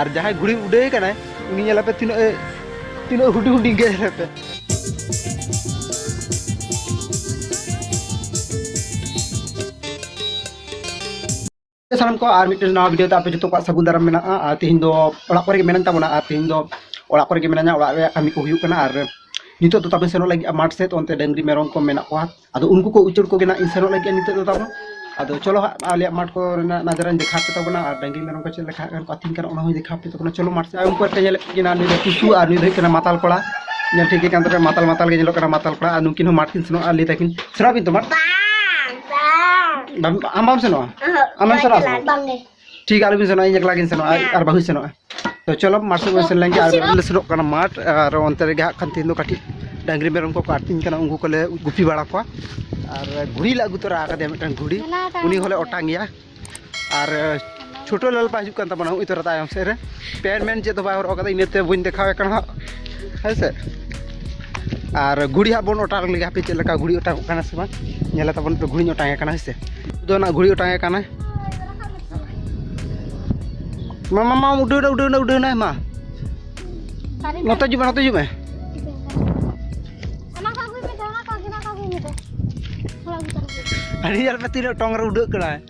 ᱟᱨ ᱡᱟᱦᱟᱸᱭ ᱜᱷᱩᱲᱤ ᱩᱰᱟᱹᱭ ᱠᱟᱱᱟᱭ ᱩᱱᱤ ᱧᱮᱞ ᱟᱯᱮ ᱛᱤᱱᱟᱹᱜ ᱛᱤᱱᱟᱹᱜ ᱦᱩᱰᱤᱧ ᱦᱩᱰᱤᱧ ᱜᱮ ᱧᱮᱞ ᱟᱯᱮ ᱥᱟᱱᱟᱢ ᱠᱚ ᱟᱨ ᱢᱤᱫᱴᱮᱱ ᱱᱟᱣᱟ ᱵᱷᱤᱰᱤᱭᱳ ᱛᱮ ᱟᱯᱮ ᱡᱚᱛᱚ ᱠᱚᱣᱟᱜ ᱥᱟᱹᱜᱩᱱ ᱫᱟᱨᱟᱢ ᱢᱮᱱᱟᱜᱼᱟ ᱟᱨ ᱛᱮᱦᱮᱧ ᱫᱚ ᱚᱲᱟᱜ ᱠᱚᱨᱮ ᱜᱮ ᱢᱮᱱᱟᱜ ᱛᱟᱵᱚᱱᱟ ᱟᱨ ᱛᱮᱦᱮᱧ ᱫᱚ ᱚᱲᱟᱜ ᱠᱚᱨᱮ ᱜᱮ ᱢᱮᱱᱟᱧᱟ ᱚᱲᱟᱜ ᱨᱮᱭᱟᱜ ᱠᱟᱹᱢᱤ ᱠᱚ ᱦᱩᱭᱩᱜ ᱠᱟᱱᱟ ᱟᱨ ᱱᱤᱛᱚᱜ ᱫᱚ ᱛᱟᱵᱮ ᱥᱮᱱᱚᱜ ᱞᱟᱹᱜᱤᱫ ᱢᱟᱴᱷ ᱥᱮᱫ ᱚᱱᱛᱮ ᱰᱟᱹᱝᱨᱤ ᱢᱮᱨᱚᱢ ᱠᱚ ᱢᱮᱱᱟᱜ ᱠᱚᱣᱟ ᱟᱫᱚ ᱩᱱᱠᱩ ᱠᱚ ᱩᱪᱟᱹᱲ ᱠᱚᱜᱮ ᱱᱟᱜ ᱤᱧ ᱥᱮᱱᱚᱜ ᱞᱟᱹᱜᱤᱫ ᱱᱤᱛᱚᱜ ᱫᱚ ᱛᱟᱵᱚᱱ ᱟᱫᱚ ᱪᱚᱞᱚ ᱦᱟᱸᱜ ᱟᱞᱮᱭᱟᱜ ᱢᱟᱴᱷ ᱠᱚ ᱨᱮᱱᱟᱜ ᱱᱟᱡᱟᱨᱟᱧ ᱫᱮᱠᱷᱟᱣ ᱯᱮ ᱛᱟᱵᱚᱱᱟ ᱟᱨ ᱰᱟᱹᱝᱨᱤ ᱢᱮᱨᱚᱢ ᱠᱚ ᱪᱮᱫ ᱞᱮᱠᱟ ᱠᱚ ᱟᱹᱛᱤᱧ ᱠᱟᱱᱟ ᱚᱱᱟ ᱦᱚᱸᱧ ᱫᱮᱠᱷᱟᱣ ᱯᱮ ᱛᱟᱵᱚᱱᱟ ᱪᱚᱞᱚ ᱢᱟᱴᱷ ᱥᱮᱫ ᱟᱨ ᱩᱱᱠᱩ ᱟᱨ ᱧᱮᱞᱮᱫ ᱠᱤᱱᱟ ᱱᱩᱭ ᱫᱚ ᱴᱩᱥᱩ ᱟᱨ ᱱᱩᱭ ᱫᱚ ᱦᱩᱭᱩᱜ ᱠᱟᱱᱟ ᱢᱟᱛᱟᱞ ᱠᱚᱲᱟ ᱧᱮᱞ ᱴᱷᱤᱠ ᱜᱮ ᱠᱟᱱ ᱛᱟᱯᱮ ᱢᱟᱛᱟᱞ ᱢᱟᱛᱟᱞ ᱜᱮ ᱧᱮᱞᱚᱜ ᱠᱟᱱᱟ ᱢᱟᱛᱟᱞ ᱠᱚᱲᱟ ᱟᱨ ᱱᱩᱠᱤᱱ ᱦᱚᱸ ᱢᱟᱴᱷ ᱠᱤᱱ ᱥᱮᱱᱚᱜᱼᱟ ᱞᱟᱹᱭ ᱛᱟᱹᱠᱤᱱ ᱥᱮᱱᱚᱜ ᱟᱹᱵᱤᱱ ᱛᱚ ᱢᱟᱴᱷ ᱟᱢ ᱵᱟᱢ ᱥᱮᱱᱚᱜᱼᱟ ᱟᱢᱮᱢ ᱥᱮᱱᱚᱜᱼᱟ ᱥᱮ ᱵᱟᱝ ᱴᱷᱤᱠ ᱟᱞᱚ ᱵᱤᱱ ᱥᱮᱱᱚᱜᱼᱟ ᱤᱧ ᱮᱠᱞᱟ ᱜᱤᱧ ᱥᱮᱱᱚᱜᱼᱟ ᱟᱨ ᱵᱟᱹᱦᱩᱭ ᱥᱮᱱᱚᱜᱼᱟ ᱛᱚ ᱪᱚᱞᱚ ᱢᱟᱴᱷ ᱥᱮᱫ ᱵᱚᱱ ᱥᱮᱱ ᱞᱮᱱᱜᱮ ᱟᱨ ᱞᱮ ᱥᱮᱱᱚᱜ ᱠᱟᱱᱟ ᱢᱟᱴᱷ ᱟᱨ ᱚᱱᱛᱮ ᱨᱮᱜᱮ ᱦᱟᱸᱜ ᱠᱷᱟᱱ ᱛᱤᱦᱤᱧ ᱫᱚ ᱠᱟᱹᱴᱤᱡ ᱰᱟᱝᱨᱤ ᱢᱮᱨᱚᱢ ᱠᱚᱠᱚ ᱟᱹᱛᱤᱧ ᱠᱟᱱᱟ ᱩᱱᱠᱩ ᱠᱚᱞᱮ ᱜᱩᱯᱤ ᱵᱟᱲᱟ ᱠᱚᱣᱟ ᱟᱨ ᱜᱷᱩᱲᱤ ᱞᱮ ᱟᱹᱜᱩ ᱛᱚᱨᱟ ᱟᱠᱟᱫᱮᱭᱟ ᱢᱤᱫᱴᱟᱝ ᱜᱷᱩᱲᱤ ᱩᱱᱤ ᱦᱚᱸᱞᱮ ᱚᱴᱟᱝ ᱮᱭᱟ ᱟᱨ ᱪᱷᱳᱴᱳ ᱞᱟᱞᱯᱟ ᱦᱤᱡᱩᱜ ᱠᱟᱱ ᱛᱟᱵᱚᱱᱟ ᱦᱩᱭ ᱛᱚᱨᱟ ᱛᱟᱭᱚᱢ ᱥᱮᱫ ᱨᱮ ᱯᱮᱱ ᱢᱮᱱ ᱪᱮᱫ ᱫᱚ ᱵᱟᱭ ᱦᱚᱨᱚᱜ ᱟᱠᱟᱫᱟ ᱤᱱᱟᱹᱛᱮ ᱵᱟᱹᱧ ᱫᱮᱠᱷᱟᱣᱮ ᱠᱟᱱᱟ ᱦᱟᱸᱜ ᱦᱮᱸ ᱥᱮ ᱟᱨ ᱜᱷᱩᱲᱤ ᱦᱟᱸᱜ ᱵᱚᱱ ᱚᱴᱟᱝ ᱞᱮᱜᱮ ᱦᱟᱯᱮ ᱪᱮᱫ ᱞᱮᱠᱟ ᱜᱷᱩᱲᱤ ᱚᱴᱟᱝᱚᱜ ᱠᱟᱱᱟ ᱥᱮ ᱵᱟᱝ ᱧᱮᱞ ᱛᱟᱵᱚᱱ ᱯᱮ ᱜᱷᱩᱲᱤᱧ ᱚᱴᱟᱝ ᱮ ᱠᱟᱱᱟ ᱦᱮᱸ ᱥᱮ ᱫᱚ ᱚᱱᱟ ᱜᱷᱩᱲᱤ ᱚᱴᱟᱝ ᱮ ᱠᱟᱱᱟ ᱢᱟ ᱢᱟ ᱢᱟ ᱩᱰᱟᱹᱣ ᱮᱱᱟ ᱩᱰᱟᱹᱣ ᱮᱱᱟ ᱩᱰᱟᱹᱣ ᱮᱱᱟᱭ ᱢᱟ ᱱᱚᱛᱮ ᱦᱤᱡᱩᱜ ᱢᱮ ᱱᱚᱛᱮ ᱦᱤᱡᱩᱜ ᱢᱮ ᱟᱹᱰᱤ ᱧᱮᱞ ᱯᱮ ᱛᱤᱱᱟᱹᱜ ᱴᱚᱝ ᱨᱮ ᱩᱰᱟᱹᱜ ᱠᱟᱱᱟᱭ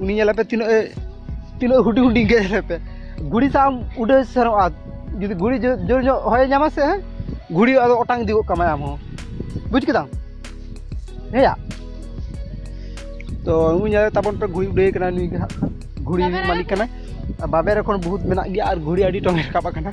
ᱩᱱᱤ ᱧᱮᱞᱮ ᱯᱮ ᱛᱤᱱᱟᱹᱜ ᱛᱤᱱᱟᱹᱜ ᱦᱩᱰᱤᱧ ᱦᱩᱰᱤᱧ ᱜᱮ ᱧᱮᱞᱮ ᱯᱮ ᱜᱷᱩᱲᱤ ᱥᱟᱶ ᱩᱰᱟᱹᱣ ᱥᱮᱱᱚᱜᱼᱟ ᱡᱩᱫᱤ ᱜᱷᱩᱲᱤ ᱡᱳᱨ ᱧᱚᱜ ᱦᱚᱭᱮ ᱧᱟᱢᱟ ᱥᱮ ᱜᱷᱩᱲᱤ ᱟᱫᱚ ᱚᱴᱟᱝ ᱤᱫᱤ ᱜᱚᱫ ᱠᱟᱢᱟᱭ ᱟᱢ ᱦᱚᱸ ᱵᱩᱡᱽ ᱠᱮᱫᱟᱢ ᱦᱮᱸᱭᱟ ᱛᱚ ᱩᱱᱤ ᱧᱮᱞ ᱛᱟᱵᱚᱱ ᱯᱮ ᱜᱷᱩᱲᱤ ᱩᱰᱟᱹᱣ ᱠᱟᱱᱟ ᱱᱩᱭ ᱜᱮ ᱦᱟᱸᱜ ᱜᱷᱩᱲᱤ ᱢᱟᱹᱞᱤᱠ ᱠᱟᱱᱟᱭ ᱵᱟᱵᱮᱨ ᱮᱠᱷᱚᱱ ᱵᱚᱦᱩᱛ ᱢᱮᱱᱟᱜ ᱜᱮᱭᱟ ᱟᱨ ᱜᱷᱩᱲᱤ ᱟᱹᱰᱤ ᱴᱚᱝ ᱨᱟᱠᱟᱵ ᱟᱠᱟᱱᱟ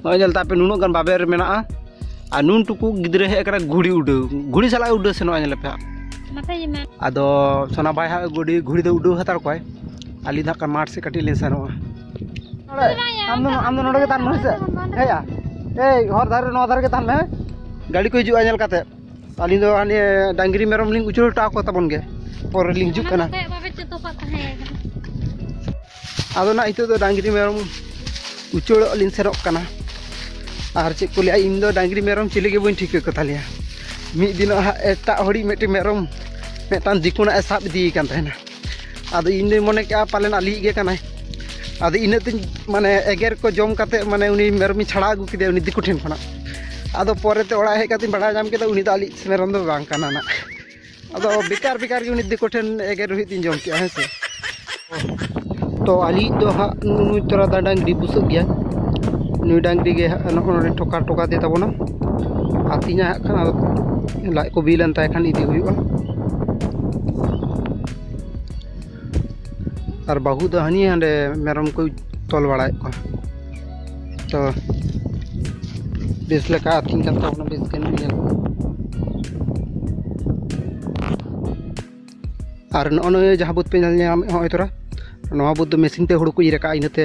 ᱱᱚᱜᱼᱚᱭ ᱧᱮᱞ ᱛᱟᱯᱮ ᱱᱩᱱᱟᱹᱜ ᱜᱟᱱ ᱵᱟᱵᱮᱨ ᱢᱮᱱᱟᱜᱼᱟ ᱟᱨ ᱱᱩᱱ ᱴᱩᱠᱩ ᱜᱤᱫᱽᱨᱟᱹ ᱦᱮᱡ ᱠᱟᱱᱟ ᱜᱷᱩᱲᱤ ᱩᱰᱟᱹᱣ ᱜᱷᱩᱲᱤ ᱥᱟᱞᱟᱜ ᱩᱰᱟᱹᱣ ᱥᱮᱱᱚᱜᱼᱟ ᱧᱮᱞ ᱯᱮ ᱟᱫᱚ ᱥᱚᱱᱟ ᱵᱟᱭ ᱦᱟᱸᱜ ᱜᱩᱰᱤ ᱜᱷᱩᱲᱤ ᱫᱚ ᱩᱰᱟᱹᱣ ᱦᱟᱛᱟᱲ ᱠᱚᱣᱟᱭ ᱟᱹᱞᱤᱧ ᱫᱚ ᱦᱟᱸᱜ ᱢᱟᱴᱷ ᱥᱮᱫ ᱠᱟᱹᱴᱤᱡ ᱞᱤᱧ ᱥᱮᱱᱚᱜᱼᱟ ᱟᱢ ᱫᱚ ᱟᱢ ᱫᱚ ᱱᱚᱰᱮ ᱜᱮ ᱛᱟᱦᱮᱱ ᱢᱮ ᱥᱮ ᱦᱮᱸᱭᱟ ᱮᱭ ᱦᱚᱨ ᱫᱷᱟᱨᱮ ᱱᱚᱣᱟ ᱫᱷᱟᱨᱮ ᱜᱮ ᱛᱟᱦᱮᱱ ᱢᱮ ᱜᱟᱹᱰᱤ ᱠᱚ ᱦᱤᱡᱩᱜᱼᱟ ᱧᱮᱞ ᱠᱟᱛᱮ ᱟᱹᱞᱤᱧ ᱫᱚ ᱦᱟᱱᱮ ᱰᱟᱝᱨᱤ ᱢᱮᱨᱚᱢ ᱞᱤᱧ ᱩᱪᱟᱹᱲ ᱦᱚᱴᱚ ᱟᱠᱚ ᱛᱟᱵᱚᱱ ᱜᱮ ᱯᱚᱨᱮ ᱞᱤᱧ ᱦᱤᱡᱩᱜ ᱠᱟᱱᱟ ᱟᱫᱚ ᱱᱟᱜ ᱱᱤᱛᱚᱜ ᱫᱚ ᱰᱟᱝᱨᱤ ᱢᱮᱨᱚᱢ ᱩᱪᱟᱹᱲᱚᱜ ᱞᱤᱧ ᱥᱮᱱᱚᱜ ᱠᱟᱱᱟ ᱟᱨ ᱪᱮᱫ ᱠᱚ ᱞᱟᱹᱭᱟ ᱤᱧ ᱫᱚ ᱰᱟᱝᱨᱤ ᱢᱮᱨᱚᱢ ᱪᱤᱞᱤ ᱜᱮ ᱵᱟᱹᱧ ᱴᱷᱤᱠᱟᱹ ᱠᱚᱛᱟᱞᱮᱭᱟ ᱢᱤᱫ ᱫᱤᱱᱚᱜ ᱦᱟᱸᱜ ᱮᱴᱟᱜ ᱦᱚᱲᱤᱡ ᱢᱤᱫᱴᱮᱱ ᱢᱮᱨᱚᱢ ᱢᱤᱫᱴᱟᱝ ᱫᱤᱠᱩᱱᱟᱜ ᱮ ᱥᱟᱵ ᱤᱫᱤᱭᱮ ᱠᱟᱱ ᱛᱟᱦᱮᱱᱟ ᱟᱫᱚ ᱤᱧ ᱫᱚᱧ ᱢᱚᱱᱮ ᱠᱮᱜᱼᱟ ᱯᱟᱞᱮᱱ ᱟᱞᱮᱭᱤᱡ ᱜᱮ ᱠᱟᱱᱟᱭ ᱟᱫᱚ ᱤᱱᱟᱹᱜ ᱛᱤᱧ ᱢᱟᱱᱮ ᱮᱜᱮᱨ ᱠᱚ ᱡᱚᱢ ᱠᱟᱛᱮ ᱢᱟᱱᱮ ᱩᱱᱤ ᱢᱮᱨᱚᱢᱤᱧ ᱪᱷᱟᱲᱟᱣ ᱟᱹᱜᱩ ᱠᱮᱫᱮᱭᱟ ᱩᱱᱤ ᱫᱤᱠᱩ ᱴᱷᱮᱱ ᱠᱷᱚᱱᱟᱜ ᱟᱫᱚ ᱯᱚᱨᱮᱛᱮ ᱚᱲᱟᱜ ᱦᱮᱡ ᱠᱟᱛᱮᱧ ᱵᱟᱲᱟᱭ ᱧᱟᱢ ᱠᱮᱫᱟ ᱩᱱᱤ ᱫᱚ ᱟᱞᱮᱭᱤᱡ ᱢᱮᱨᱚᱢ ᱫᱚ ᱵᱟᱝ ᱠᱟᱱᱟ ᱱᱟᱜ ᱟᱫᱚ ᱵᱮᱠᱟᱨ ᱵᱮᱠᱟᱨ ᱜᱮ ᱩᱱᱤ ᱫᱤᱠᱩ ᱴᱷᱮᱱ ᱮᱜᱮᱨ ᱨᱩᱦᱤᱫ ᱤᱧ ᱡᱚᱢ ᱠᱮᱜᱼᱟ ᱦᱮᱸ ᱥᱮ ᱛᱚ ᱟᱹᱞᱤᱧ ᱫᱚ ᱦᱟᱸᱜ ᱱᱩᱭ ᱛᱚᱨᱟ ᱫᱟ ᱰᱟᱝᱨᱤ ᱵᱩᱥᱟᱹᱜ ᱜᱮᱭᱟ ᱱᱩᱭ ᱰᱟᱝᱨᱤ ᱜᱮ ᱦᱟᱸᱜ ᱱᱚᱜᱼᱚ ᱱᱚᱰᱮ ᱴᱷᱚᱠᱟ ᱴᱷᱚᱠᱟ ᱛᱮ ᱛᱟᱵᱚᱱᱟ ᱟᱹᱛᱤᱧᱟ ᱦᱟᱸᱜ ᱠᱷᱟᱱ ᱟᱫᱚ ᱞᱟᱡ ᱠᱚ ᱵᱤᱞᱮᱱ ᱛᱟᱭ ᱠᱷᱟᱱ ᱤᱫᱤ ᱦᱩᱭᱩᱜᱼᱟ ᱟᱨ ᱵᱟᱹᱦᱩ ᱫᱚ ᱦᱟᱹᱱᱤ ᱦᱟᱸᱰᱮ ᱢᱮᱨᱚᱢ ᱠᱚᱭ ᱛᱚᱞ ᱵᱟᱲᱟᱭᱮᱫ ᱠᱚᱣᱟ ᱛᱚ ᱵᱮᱥ ᱞᱮᱠᱟ ᱟᱹᱛᱤᱧ ᱠᱟᱱ ᱛᱟᱵᱚᱱᱟ ᱵᱮᱥ ᱜᱮ ᱧᱮᱞ ᱟᱨ ᱱᱚᱜᱼᱚ ᱱᱚᱣᱟ ᱡᱟᱦᱟᱸ ᱵᱟᱹᱫᱽ ᱯᱮ ᱧᱮᱞ ᱧᱟᱢᱮᱫ ᱦᱚᱸᱜᱼᱚᱭ ᱛᱚᱨᱟ ᱱᱚᱣᱟ ᱵᱟᱹᱫᱽ ᱫᱚ ᱢᱮᱥᱤᱱ ᱛᱮ ᱦᱩᱲᱩ ᱠᱚ ᱤᱨ ᱟᱠᱟᱫᱼᱟ ᱤᱱᱟᱹᱛᱮ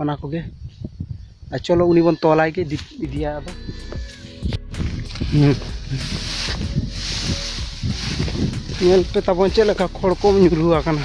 ᱚᱱᱟ ᱠᱚᱜᱮ ᱟᱨ ᱪᱚᱞᱚ ᱩᱱᱤ ᱵᱚᱱ ᱛᱚᱞᱟᱭ ᱜᱮ ᱤᱫᱤᱭᱟ ᱟᱫᱚ ᱧᱮᱞ ᱯᱮ ᱛᱟᱵᱚᱱ ᱪᱮᱫ ᱞᱮᱠᱟ ᱠᱷᱚᱲ ᱠᱚ ᱧᱩᱨᱩ ᱟᱠᱟᱱᱟ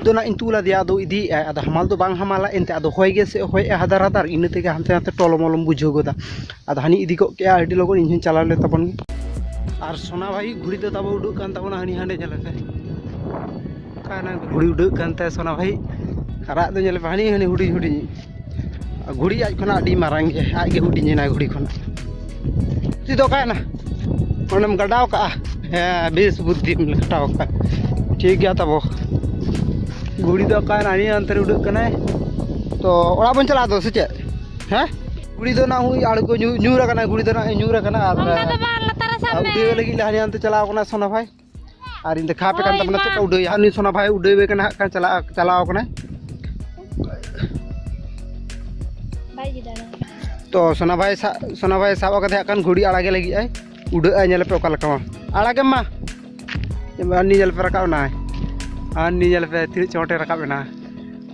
ᱟᱫᱚ ᱱᱟᱜ ᱤᱧ ᱛᱩᱞ ᱟᱫᱮᱭᱟ ᱟᱫᱚ ᱤᱫᱤᱭᱮᱫ ᱟᱭ ᱟᱫᱚ ᱦᱟᱢᱟᱞ ᱫᱚ ᱵᱟᱝ ᱦᱟᱢᱟᱞᱟ ᱮᱱᱛᱮ ᱟᱫᱚ ᱦᱚᱭ ᱜᱮᱥᱮ ᱦᱚᱭᱮᱜᱼᱟᱭ ᱦᱟᱫᱟᱨ ᱦᱟᱫᱟᱨ ᱤᱱᱟᱹ ᱛᱮᱜᱮ ᱦᱟᱱᱛᱮ ᱱᱟᱛᱮ ᱴᱚᱞᱚ ᱢᱚᱞᱚᱢ ᱵᱩᱡᱷᱟᱹᱣ ᱜᱚᱫᱟ ᱟᱫᱚ ᱦᱟᱹᱱᱤ ᱤᱫᱤ ᱜᱚᱫ ᱠᱮᱫᱼᱟ ᱟᱹᱰᱤ ᱞᱚᱜᱚᱱ ᱤᱧ ᱦᱚᱸᱧ ᱪᱟᱞᱟᱣ ᱞᱮᱱ ᱛᱟᱵᱚᱱ ᱜᱮ ᱟᱨ ᱥᱳᱱᱟ ᱵᱷᱟᱹᱭ ᱜᱷᱩᱲᱤ ᱫᱚ ᱛᱟᱵᱚ ᱩᱰᱩᱠ ᱠᱟᱱ ᱛᱟᱵᱚᱱᱟ ᱦᱟᱹᱱᱤ ᱦᱟᱸᱰᱮ ᱧᱮᱞ ᱯᱮ ᱚᱠᱟᱭᱮᱱᱟᱭ ᱜᱷᱩᱲᱤ ᱩᱰᱟᱹᱜ ᱠᱟᱱ ᱛᱟᱭᱟ ᱥᱳᱱᱟ ᱵᱷᱟᱹᱭ ᱟᱨ ᱟᱡ ᱫᱚ ᱧᱮᱞᱮ ᱯᱮ ᱦᱟᱹᱱᱤ ᱦᱟᱹᱱᱤ ᱦᱩᱰᱤᱧ ᱦᱩᱰᱤᱧᱤᱡ ᱜᱷᱩᱲᱤ ᱟᱡ ᱠᱷᱚᱱᱟᱜ ᱟᱹᱰᱤ ᱢᱟᱨᱟᱝ ᱜᱮᱭᱟ ᱟᱡ ᱜᱮ ᱦᱩᱰᱤᱧ ᱮᱱᱟᱭ ᱜᱷᱩᱲᱤ ᱠᱷᱚᱱᱟᱜ ᱛᱤ ᱫᱚ ᱚᱠᱟᱭᱮᱱᱟ ᱚᱸᱰᱮᱢ ᱜᱟᱰᱟᱣ ᱠᱟᱜᱼᱟ ᱦᱮᱸ ᱵᱮᱥ ᱵᱩᱫᱽᱫᱷᱤᱢ ᱠᱷᱟᱴᱟᱣ ᱠᱟᱜᱼᱟ ᱴᱷᱤᱠ ᱜᱮᱭᱟ ᱛᱟᱵᱚ ᱜᱷᱩᱲᱤ ᱫᱚ ᱚᱠᱟᱭᱮᱱᱟ ᱟᱹᱰᱤ ᱚᱱᱛᱮ ᱨᱮ ᱩᱰᱟᱹᱜ ᱠᱟᱱᱟᱭ ᱛᱚ ᱚᱲᱟᱜ ᱵᱚᱱ ᱪᱟᱞᱟᱜᱼᱟ ᱛᱚ ᱥᱮ ᱪᱮᱫ ᱦᱮᱸ ᱜᱷᱩᱲᱤ ᱫᱚ ᱱᱟᱜ ᱦᱩᱭ ᱟᱬᱜᱚ ᱧᱩᱨ ᱟᱠᱟᱱᱟ ᱜᱷᱩᱲᱤ ᱫᱚ ᱱᱟᱜ ᱧᱩᱨ ᱟᱠᱟᱱᱟ ᱟᱨ ᱚᱱᱠᱟ ᱫᱚ ᱵᱟᱝ ᱞᱟᱛᱟᱨ ᱨᱮ ᱥᱟᱵ ᱢᱮ ᱩᱰᱟᱹᱣ ᱞᱟᱹᱜᱤᱫ ᱞᱮ ᱦᱟᱱᱮ ᱦᱟᱱᱛᱮ ᱪᱟᱞᱟᱣ ᱠᱟᱱᱟ ᱥᱳᱱᱟ ᱵᱷᱟᱭ ᱟᱨ ᱤᱧ ᱫᱮᱠᱷᱟᱣ ᱟᱯᱮ ᱠᱟᱱ ᱛᱟᱵᱚᱱᱟ ᱪᱮᱫᱠᱟ ᱩᱰᱟᱹᱭᱟ ᱩᱱᱤ ᱥᱚᱱᱟ ᱵᱷᱟᱭ ᱩᱰᱟᱹᱣᱮ ᱠᱟᱱᱟ ᱦᱟᱸᱜ ᱠᱷᱟᱱ ᱪᱟᱞᱟᱣ ᱪᱟᱞᱟᱣ ᱠᱟᱱᱟᱭ ᱛᱚ ᱥᱚᱱᱟ ᱵᱷᱟᱭ ᱥᱚᱱᱟ ᱵᱷᱟᱭ ᱥᱟᱵ ᱠᱟᱛᱮ ᱦᱟᱸᱜ ᱠᱷᱟᱱ ᱜᱷᱩᱲᱤ ᱟᱲᱟᱜᱮ ᱞᱟᱹᱜᱤᱫ ᱟᱭ ᱩᱰᱟᱹᱜᱼᱟᱭ ᱧᱮᱞ ᱯᱮ ᱚᱠᱟ ᱞᱮᱠᱟ ᱢᱟ ᱟᱲᱟᱜᱮᱢ ᱢᱟ ᱟᱨ ᱱᱤ ᱧᱮᱞ ᱯᱮ ᱨᱟᱠᱟᱵ ᱮᱱᱟᱭ ᱟᱨ ᱱᱤ ᱧᱮᱞ ᱯᱮ ᱛᱤᱱᱟᱹᱜ ᱪᱚᱴᱮ ᱨᱟᱠᱟᱵ ᱮᱱᱟ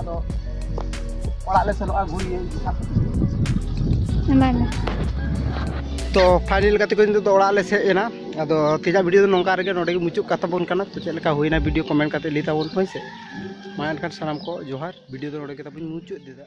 ᱟᱫᱚ ᱚᱲᱟᱜ ᱞᱮ ᱥᱮᱱᱚᱜᱼᱟ ᱜᱷᱩᱨᱤᱭᱟᱹ ᱮᱢᱟᱭ ᱢᱮ ᱛᱚ ᱯᱷᱟᱭᱱᱮᱞ ᱜᱟᱛᱮ ᱠᱚ ᱱᱤᱛᱚᱜ ᱫᱚ ᱚᱲᱟᱜ ᱞᱮ ᱥᱮᱡ ᱮᱱᱟ ᱟᱫᱚ ᱛᱮᱦᱮᱧᱟᱜ ᱵᱷᱤᱰᱤᱭᱳ ᱫᱚ ᱱᱚᱝᱠᱟ ᱨᱮᱜᱮ ᱱᱚᱰᱮ ᱜᱮ ᱢᱩᱪᱟᱹᱫ ᱠᱟᱛᱟ ᱵᱚᱱ ᱠᱟᱱᱟ ᱛᱚ ᱪᱮᱫ ᱞᱮᱠᱟ ᱦᱩᱭᱱᱟ ᱵᱷᱤᱰᱤᱭᱳ ᱠᱚᱢᱮᱱᱴ ᱠᱟᱛᱮ ᱞᱟᱹᱭ ᱛᱟᱵᱚᱱ ᱯᱮ ᱦᱳᱭ ᱥᱮ ᱢᱟ ᱮᱱᱠᱷᱟᱱ ᱥᱟᱱᱟᱢ ᱠᱚ ᱡᱚᱦᱟᱨ ᱵᱷᱤᱰᱤᱭᱳ ᱫᱚ ᱱᱚᱰᱮ ᱜᱮ ᱛᱟᱵᱚᱱ ᱢᱩᱪᱟᱹᱫ ᱫᱮᱫᱟ